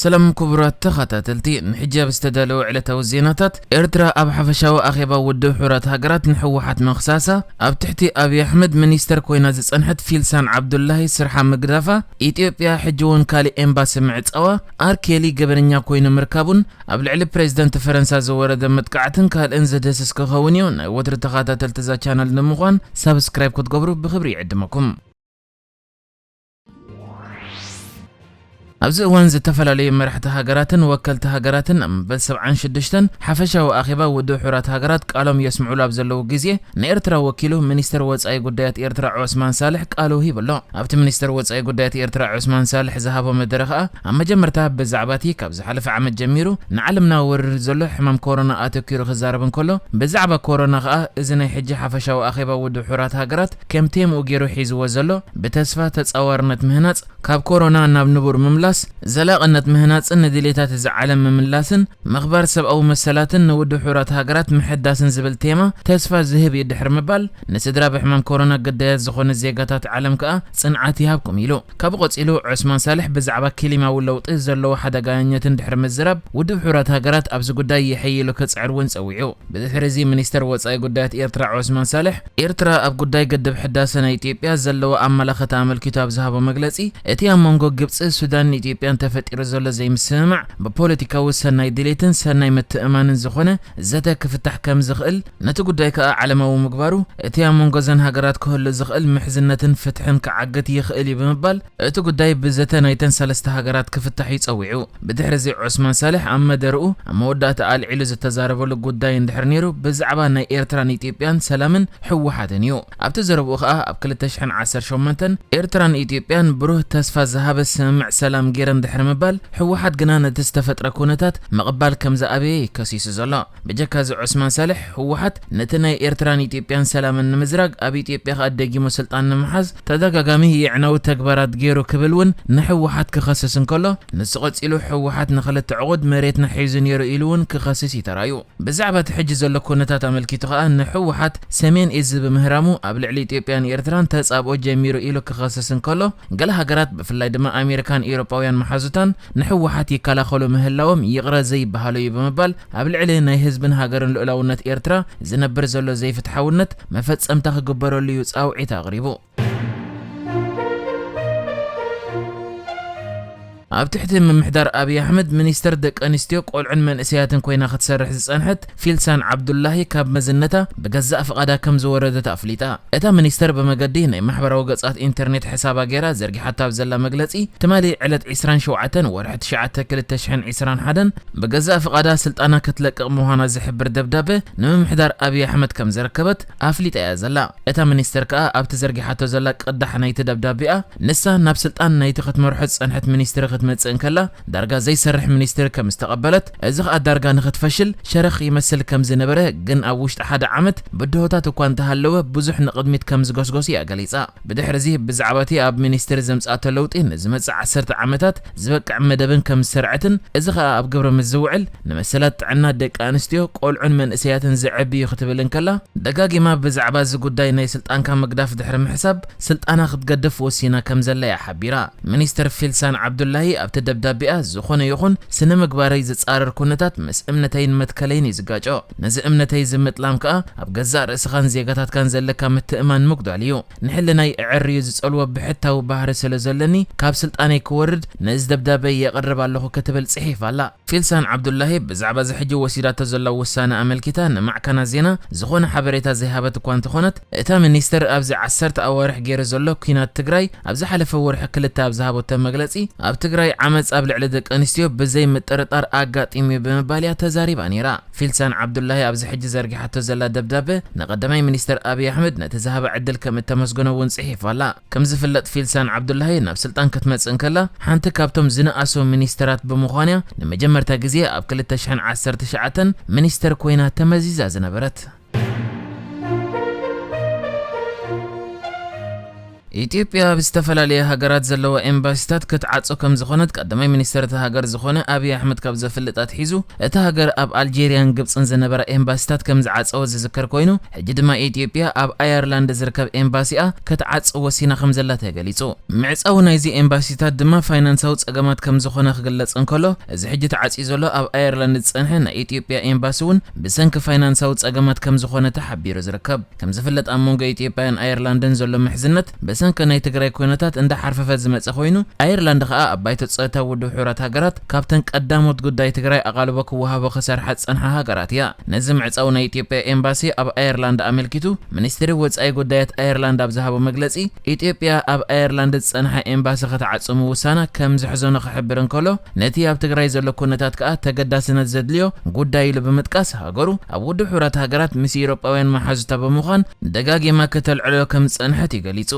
ሰላም ኩቡራት ተኻታተልቲ ንሕጃብ ዝተዳለወ ዕለታዊ ዜናታት፣ ኤርትራ ኣብ ሓፈሻዊ ኣኼባ ውድብ ሕቡራት ሃገራት ንሕወሓት ምኽሳሳ፣ ኣብ ትሕቲ ኣብይ ኣሕመድ ሚኒስተር ኮይና ዝጸንሐት ፊልሳን ዓብዱላሂ ስርሓ ምግዳፋ፣ ኢትዮጵያ ሕጂ'ውን ካሊእ ኤምባሲ ምዕጻዋ፣ ኣር ኬሊ ገበነኛ ኮይኑ ምርካቡን ኣብ ልዕሊ ፕሬዚደንት ፈረንሳ ዝወረደ መጥቃዕትን ካልእን ዘድህስስ ክኸውን እዩ። ናይ ወትሩ ተኻታተልቲ እዛ ቻነል ንምዃን ሳብስክራይብ ክትገብሩ ብኽብሪ ይዕድመኩም። ኣብዚ እዋን ዝተፈላለዩ መራሕቲ ሃገራትን ወከልቲ ሃገራትን ኣብ መበል ሰብዓን ሽዱሽተን ሓፈሻዊ ኣኼባ ውድብ ሕቡራት ሃገራት ቃሎም የስምዑሉ ኣብ ዘለዉ ግዜ ንኤርትራ ወኪሉ ሚኒስተር ወጻኢ ጉዳያት ኤርትራ ዖስማን ሳልሕ ቃሉ ሂቡ ኣሎ። ኣብቲ ሚኒስተር ወጻኢ ጉዳያት ኤርትራ ዖስማን ሳልሕ ዝሃቦ መደረ ከኣ ኣብ መጀመርታ ብዛዕባቲ ካብ ዝሓለፈ ዓመት ጀሚሩ ንዓለምና ወሪሩ ዘሎ ሕማም ኮሮና ኣተኲሩ ክዛረብ እንከሎ ብዛዕባ ኮሮና ከኣ እዚ ናይ ሕጂ ሓፈሻዊ ኣኼባ ውድብ ሕቡራት ሃገራት ከም ቴምኡ ጌሩ ሒዝዎ ዘሎ ብተስፋ ተጻዋርነት ምህናጽ፣ ካብ ኮሮና ናብ ንቡር ምምላስ፣ ዘላቕነት ምህናጽን ንድሌታት እዚ ዓለም ምምላስን፣ ምኽባር ሰብኣዊ መሰላትን ንውድሑራት ሃገራት ምሕዳስን ዝብል ቴማ ተስፋ ዝህብ እዩ ድሕሪ ምባል፣ ንስድራ ብሕማም ኮሮና ግዳያት ዝኾኑ ዜጋታት ዓለም ከኣ ጽንዓት ይሃብኩም ኢሉ። ካብኡ ቀጺሉ ዖስማን ሳልሕ ብዛዕባ ኪሊማዊ ለውጢ ዘለዎ ሓደጋኛኘትን ድሕሪ ምዝራብ፣ ውድብ ሕቡራት ሃገራት ኣብዚ ጉዳይ የሐይሉ ክጽዕር እውን ጸዊዑ። ብድሕሪዚ ሚኒስተር ወጻኢ ጉዳያት ኤርትራ ዖስማን ሳልሕ፣ ኤርትራ ኣብ ጉዳይ ግድብ ሕዳሰ ናይ ኢትዮጵያ ዘለዋ ኣመላኸታ ኣመልኪቱ ኣብ ዝሃቦ መግለጺ፣ እቲ ኣብ መንጎ ግብጺ፣ ሱዳንን ኢትዮጵያን ተፈጢሩ ዘሎ ዘይምስምማዕ ብፖለቲካዊ ሰናይ ድሌትን ሰናይ ምትእምማንን ዝኾነ ዘተ ክፍታሕ ከምዝኽእል ነቲ ጉዳይ ከኣ ዓለማዊ ምግባሩ፣ እቲ ኣብ መንጎ እዘን ሃገራት ክህሉ ዝኽእል ምሕዝነትን ፍትሕን ክዓግት ይኽእል እዩ ብምባል፣ እቲ ጉዳይ ብዘተ ናይተን ሰለስተ ሃገራት ክፍታሕ እዩ ጸዊዑ። ብድሕሪዚ ዖስማን ሳልሕ ኣብ መደርኡ ኣብ መወዳእታ ኣልዒሉ ዝተዛረበሉ ጉዳይ እንድሕር ነይሩ ብዛዕባ ናይ ኤርትራን ኢትዮጵያን ሰላምን ህወሓትን እዩ። ኣብቲ ዘረብኡ ከኣ ኣብ ክልተ ሽሕን ዓሰርተ ሸሞንተን ኤርትራን ኢትዮጵያን ብሩህ ተስፋ ዝሃበ ስምምዕ ሰላም ገይረን ድሕሪ ምባል፣ ህወሓት ግና ነቲ ዝተፈጥረ ኩነታት ምቕባል ከምዝኣበየ እዩ ከሲሱ ዘሎ። ብጀካ እዚ ዑስማን ሳልሕ፣ ህወሓት፣ ነቲ ናይ ኤርትራን ኢትዮጵያን ሰላምን ንምዝራግ፣ ኣብ ኢትዮጵያ ከኣ ደጊሙ ስልጣን ንምሓዝ ተደጋጋሚ የዕናዊ ተግባራት ገይሩ ክብል ውን ንህወሓት ክኸስስ እንከሎ፣ ንሱ ቀጺሉ ህወሓት ንኽልተ ዕቑድ መሬትና ሒዙ ነይሩ ኢሉ ውን ክኸስስ እዩ ተራእዩ። ብዛዕባ እቲ ሕጂ ዘሎ ኩነታት ኣመልኪቱ ከኣ ንህወሓት ሰሜን እዚ ብምህራሙ ኣብ ልዕሊ ኢትዮጵያን ኤርትራን ተጻብኦ ጀሚሩ ኢሉ ክኸስስ እንከሎ፣ ገለ ሃገራት ብፍላይ ድማ ኣሜሪካን ኤውሮጳውያን መሓዙታን፣ ንሕወሓት ይከላኸሉ ምህላዎም ይቕረ ዘይበሃሎ'ዩ ብምባል፣ ኣብ ልዕሊ ናይ ህዝብን ሃገርን ልኡላውነት ኤርትራ ዝነብር ዘሎ ዘይፍትሓውነት መፈጸምታ ክግበረሉ'ዩ ጻውዒት ኣቕሪቡ። ኣብ ትሕቲ ምምሕዳር ኣብይ ኣሕመድ ሚኒስተር ደቀንስትዮ፣ ቆልዑን መንእሰያትን ኮይና ክትሰርሕ ዝጸንሐት ፊልሳን ዓብዱላሂ ካብ መዝነታ ብገዛእ ፍቓዳ ከም ዝወረደት ኣፍሊጣ። እታ ሚኒስተር ብመገዲ ናይ ማሕበራዊ ገጻት ኢንተርኔት ሕሳባ ገይራ ዘርጊሓቶ ኣብ ዘላ መግለጺ፣ ትማሊ ዕለት ዕስራን ሸውዓተን ወርሒ ትሽዓተ ክልተ ሽሕን ዕስራን ሓደን ብገዛእ ፍቓዳ ስልጣና ከትለቅቕ ምዃና ዝሕብር ደብዳበ ንምምሕዳር ኣብይ ኣሕመድ ከም ዘረከበት ኣፍሊጣ እያ ዘላ። እታ ሚኒስተር ከኣ ኣብቲ ዘርጊሓቶ ዘላ ቅዳሕ ናይቲ ደብዳቤኣ፣ ንሳ ናብ ስልጣን ናይቲ ክትመርሖ ዝጸንሐት ሚኒስትሪ ክትመጽእ እንከላ፣ ዳርጋ ዘይሰርሕ ሚኒስቴር ከም ዝተቐበለት፣ እዚ ከኣ ዳርጋ ንክትፈሽል ሸረኽ ይመስል ከም ዝነበረ ግን ኣብ ውሽጢ ሓደ ዓመት ብድሆታት እኳ እንተሃለወ ብዙሕ ንቕድሚት ከም ዝጎስጎስ እያ ገሊጻ። ብድሕሪዚ ብዛዕባቲ ኣብ ሚኒስቴር ዘምጽኣቶ ለውጢ ንዝመጽእ ዓሰርተ ዓመታት ዝበቅዕ መደብን ከም ዝሰርዐትን እዚ ከኣ ኣብ ግብሪ ምስ ዝውዕል ንመሰላት ጥዕና ደቂ ኣንስትዮ፣ ቆልዑን መንእሰያትን ዘዕቢ እዩ ክትብል እንከላ፣ ደጋጊማ ብዛዕባ እዚ ጉዳይ ናይ ስልጣንካ ምግዳፍ ድሕሪ ምሕሳብ፣ ስልጣና ክትገድፍ ወሲና ከምዘላ'ያ ሓቢራ። ሚኒስተር ፊልሳን ዓብዱላሂ ኣብቲ ደብዳቤኣ፣ ዝኾነ ይኹን ስነ-ምግባረይ ዝጻረር ኩነታት ምስ እምነተይን መትከለይን'ዩ ዝጋጮ። ነዚ እምነተይ'ዚ ምጥላም ከኣ ኣብ ገዛእ ርእስኻን ዜጋታትካን ዘለካ ምትእምማን ምጉዳል'ዩ። ንሕልናይ እዕርዩ ዝጸልዎ ብሕታዊ ባህሪ ስለ ዘሎኒ ካብ ስልጣነይ ክወርድ ነዚ ደብዳበይ የቕርብ ኣለኹ ክትብል ጽሒፋ'ላ። ፊልሳን ዓብዱላሂ ብዛዕባ'ዚ ሕጂ ወሲዳቶ ዘላ ውሳነ ኣመልኪታ ንማዕከናት ዜና ዝኾነ ሓበሬታ ዘይሃበት'ኳ እንተኾነት፣ እታ ሚኒስትር ኣብዚ ዓሰርተ ኣዋርሕ ገይሩ ዘሎ ኲናት ትግራይ ኣብ ዝሓለፈ ወርሒ ክልተ ኣብ ዝሃበቶ መግለፂ ኣብ ትግራይ ዓመፅ ኣብ ልዕሊ ደቂ ኣንስትዮ ብዘይ ምጥርጣር ኣጋጢሙ'ዩ ብምባል እያ ተዛሪባ ነይራ። ፊልሳን ዓብዱላሂ ኣብዚ ሕጂ ዘርጊሓቶ ዘላ ደብዳበ ንቀዳማይ ሚኒስትር ኣብይ ኣሕመድ ነቲ ዝሃባ ዕድል ከም እተመስገኖ እውን ፅሒፋ ኣላ። ከም ዝፍለጥ ፊልሳን ዓብዱላሂ ናብ ስልጣን ክትመፅእ እንከላ ሓንቲ ካብቶም ዝነኣሱ ሚኒስትራት ብምዃን እያ ንመጀመርታ ግዜ ኣብ ክልተ ሽሕን ዓሰርተ ትሽዓተን ሚኒስትር ኮይና ተመዚዛ ዝነበረት። ኢትዮጵያ ኣብ ዝተፈላለያ ሃገራት ዘለዋ ኤምባሲታት ክትዓጾ ከምዝኾነት ቀዳማይ ሚኒስተር እታ ሃገር ዝኾነ ኣብይ ኣሕመድ ካብ ዘፍልጥ ኣትሒዙ እታ ሃገር ኣብ ኣልጀርያን ግብጽን ዝነበራ ኤምባሲታት ከምዝዓጸወት ዝዝከር ኮይኑ ሕጂ ድማ ኢትዮጵያ ኣብ ኣየርላንድ ዝርከብ ኤምባሲኣ ክትዓጽ ወሲና ከምዘላ ተገሊጹ። ምዕጻው ናይዚ ኤምባሲታት ድማ ፋይናንሳዊ ጸገማት ከምዝኾነ ክግለጽ እንከሎ እዚ ሕጂ ተዓጽዩ ዘሎ ኣብ ኣየርላንድ ዝጸንሐ ናይ ኢትዮጵያ ኤምባሲ እውን ብሰንኪ ፋይናንሳዊ ጸገማት ከምዝኾነ ተሓቢሩ ዝርከብ። ከምዝፍለጥ ኣብ መንጎ ኢትዮጵያን ኣየርላንድን ዘሎ ምሕዝነት በሰንከ ናይ ትግራይ ኩነታት እንዳሓርፈፈ ዝመጸ ኮይኑ ኣየርላንድ ከኣ ኣብ ባይቶ ጸጥታ ውድብ ሕቡራት ሃገራት ካብተን ቀዳሞት ጉዳይ ትግራይ ኣቓልቦ ክወሃቦ ክሰርሓ ዝጸንሓ ሃገራት እያ። ነዚ ምዕጻው ናይ ኢትዮጵያ ኤምባሲ ኣብ ኣየርላንድ ኣመልኪቱ ሚኒስትሪ ወጻኢ ጉዳያት ኣየርላንድ ኣብ ዝሃቦ መግለጺ ኢትዮጵያ ኣብ ኣየርላንድ ዝጸንሐ ኤምባሲ ክትዓጽው ምውሳና ከም ዘሕዘኖ ክሕብር እንከሎ፣ ነቲ ኣብ ትግራይ ዘሎ ኩነታት ከኣ ተገዳስነት ዘድልዮ ጉዳይ ኢሉ ብምጥቃስ፣ ሃገሩ ኣብ ውድብ ሕቡራት ሃገራት ምስ ኢሮጳውያን መሓዙታ ብምዃን ደጋጊማ ክተልዕሎ ከም ዝጸንሐት እዩ ገሊጹ።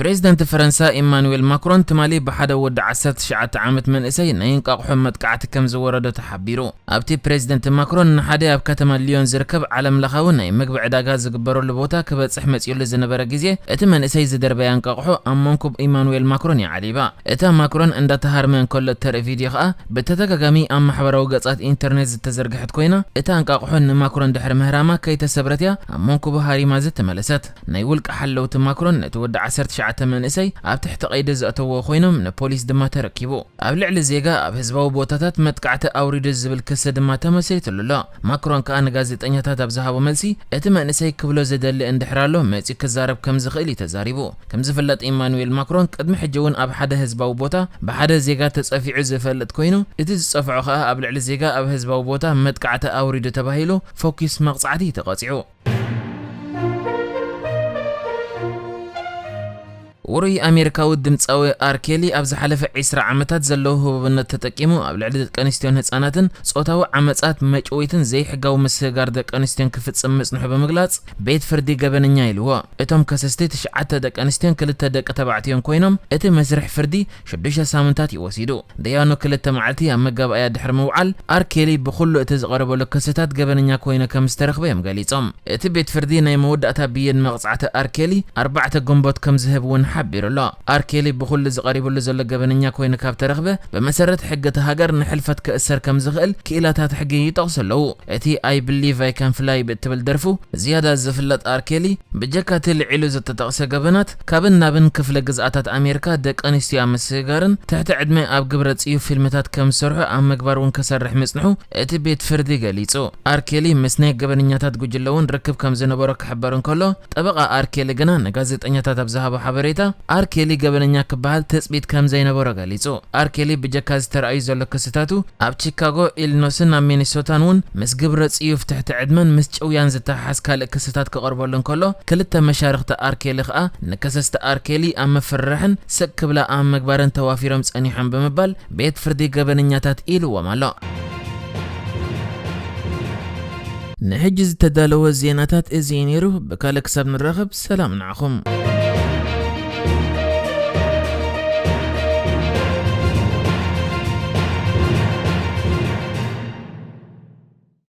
ፕሬዝደንት ፈረንሳ ኢማኑዌል ማክሮን ትማሊ ብሓደ ወዲ ዓሰርተ ትሽዓተ ዓመት መንእሰይ ናይ እንቋቑሖ መጥቃዕቲ ከምዝወረዶ ተሓቢሩ። ኣብቲ ፕሬዝደንት ማክሮን ንሓደ ኣብ ከተማ ልዮን ዝርከብ ዓለምለኻዊ ናይ ምግቢ ዕዳጋ ዝግበረሉ ቦታ ክበጽሕ መጺኡሉ ዝነበረ ግዜ እቲ መንእሰይ ዝደርበያ እንቋቑሖ ኣብ መንኩብ ኢማኑዌል ማክሮን እያ ዓሊባ። እታ ማክሮን እንዳተሃርመ እንከሎ እተርኢ ቪድዮ ከኣ ብተደጋጋሚ ኣብ ማሕበራዊ ገጻት ኢንተርኔት ዝተዘርግሐት ኮይና እታ እንቃቑሖ ንማክሮን ድሕሪ ምህራማ ከይተሰብረት እያ ኣብ መንኩቡ ሃሪማ ዝተመለሰት። ናይ ውልቀ ሓለውቲ ማክሮን ነቲ ወዲ ዓሰርተ ትሽዓተ መንእሰይ ኣብ ትሕቲ ቀይዲ ዘእተዎ ኮይኖም ንፖሊስ ድማ ተረኪቡ። ኣብ ልዕሊ ዜጋ ኣብ ህዝባዊ ቦታታት መጥቃዕቲ ኣውሪዱ ዝብል ክሲ ድማ ተመስሪትሉ ኣሎ። ማክሮን ከኣ ንጋዜጠኛታት ኣብ ዝሃቦ መልሲ እቲ መንእሰይ ክብሎ ዝደሊ እንድሕር ኣሎ መጺኡ ክዛረብ ከም ዝኽእል እዩ ተዛሪቡ። ከም ዝፍለጥ ኢማኑዌል ማክሮን ቅድሚ ሕጂ እውን ኣብ ሓደ ህዝባዊ ቦታ ብሓደ ዜጋ ተጸፊዑ ዝፈልጥ ኮይኑ እቲ ዝጸፍዖ ከኣ ኣብ ልዕሊ ዜጋ ኣብ ህዝባዊ ቦታ መጥቃዕቲ ኣውሪዱ ተባሂሉ ፎኪስ መቕጻዕቲ እዩ ተቐጺዑ። ውሩይ ኣሜሪካዊ ድምጻዊ ኣር ኬሊ ኣብ ዝሓለፈ ዒስራ ዓመታት ዘለዎ ህቡብነት ተጠቂሙ ኣብ ልዕሊ ደቀንስትዮን ህጻናትን ጾታዊ ዓመጻት፣ መጭወይትን ዘይሕጋዊ ምስግጋር ደቀንስትዮን ክፍጽም ምጽንሑ ብምግላጽ ቤት ፍርዲ ገበነኛ ኢልዎ። እቶም ከሰስቲ ትሽዓተ ደቀንስትዮን ክልተ ደቂ ተባዕትዮን ኮይኖም እቲ መስርሕ ፍርዲ ሽዱሽተ ሳምንታት እዩ ወሲዱ። ደያኑ ክልተ መዓልቲ ኣብ መጋባእያ ድሕሪ ምውዓል፣ ኣር ኬሊ ብኹሉ እቲ ዝቐረበሉ ክስታት ገበነኛ ኮይኑ ከም ዝተረኽበ እዮም ገሊጾም። እቲ ቤት ፍርዲ ናይ መወዳእታ ብይን መቕጻዕቲ ኣር ኬሊ ኣርባዕተ ግንቦት ከም ዝህብ እውን ሓቢሩ ኣሎ። ኣር ኬሊ ብኹሉ እዚ ቀሪብሉ ዘሎ ገበነኛ ኮይኑ ካብ ተረኽበ፣ ብመሰረት ሕጊ እታ ሃገር ንሕልፈት ክእሰር ከም ዝኽእል ክኢላታት ሕጊ ይጠቕሱ ኣለዉ። እቲ ኣይ ብሊቭ ኣይ ካን ፍላይ ብእትብል ደርፉ ዝያዳ ዝፍለጥ ኣር ኬሊ፣ ብጀካ እቲ ልዒሉ ዝተጠቕሰ ገበናት፣ ካብን ናብን ክፍለ ግዝኣታት ኣሜሪካ ደቂ ኣንስትዮ ኣብ ምስግጋርን ትሕቲ ዕድመ ኣብ ግብረ ጽዩፍ ፊልምታት ከም ዝሰርሑ ኣብ ምግባር እውን ክሰርሕ ምጽንሑ እቲ ቤት ፍርዲ ገሊጹ። ኣር ኬሊ ምስ ናይ ገበነኛታት ጉጅለ እውን ርክብ ከም ዝነበሮ ክሕበር እንከሎ፣ ጠበቓ ኣር ኬሊ ግና ንጋዜጠኛታት ኣብ ዝሃቦ ሓበሬታ ኣር ኬሊ ገበነኛ ክበሃል ትጽቢት ከም ዘይነበሮ ገሊጹ። ኣር ኬሊ ብጀካ እዚ ተራእዩ ዘሎ ክስታቱ ኣብ ቺካጎ፣ ኢልኖስን ኣብ ሚኒሶታን እውን ምስ ግብረ ጽዩፍ ትሕቲ ዕድመን ምስ ጭውያን ዝተሓሓዝ ካልእ ክስታት ክቐርበሉ እንከሎ፣ ክልተ መሻርኽቲ ኣር ኬሊ ከኣ ንከሰስቲ ኣር ኬሊ ኣብ ምፍርራሕን ስቅ ክብላ ኣብ ምግባርን ተዋፊሮም ጸኒሖም ብምባል ቤት ፍርዲ ገበነኛታት ኢልዎም ኣሎ። ንሕጂ ዝተዳለወ ዜናታት እዚ እዩ ነይሩ፣ ብካልእ ክሳብ ንራኸብ ሰላም ንዓኹም።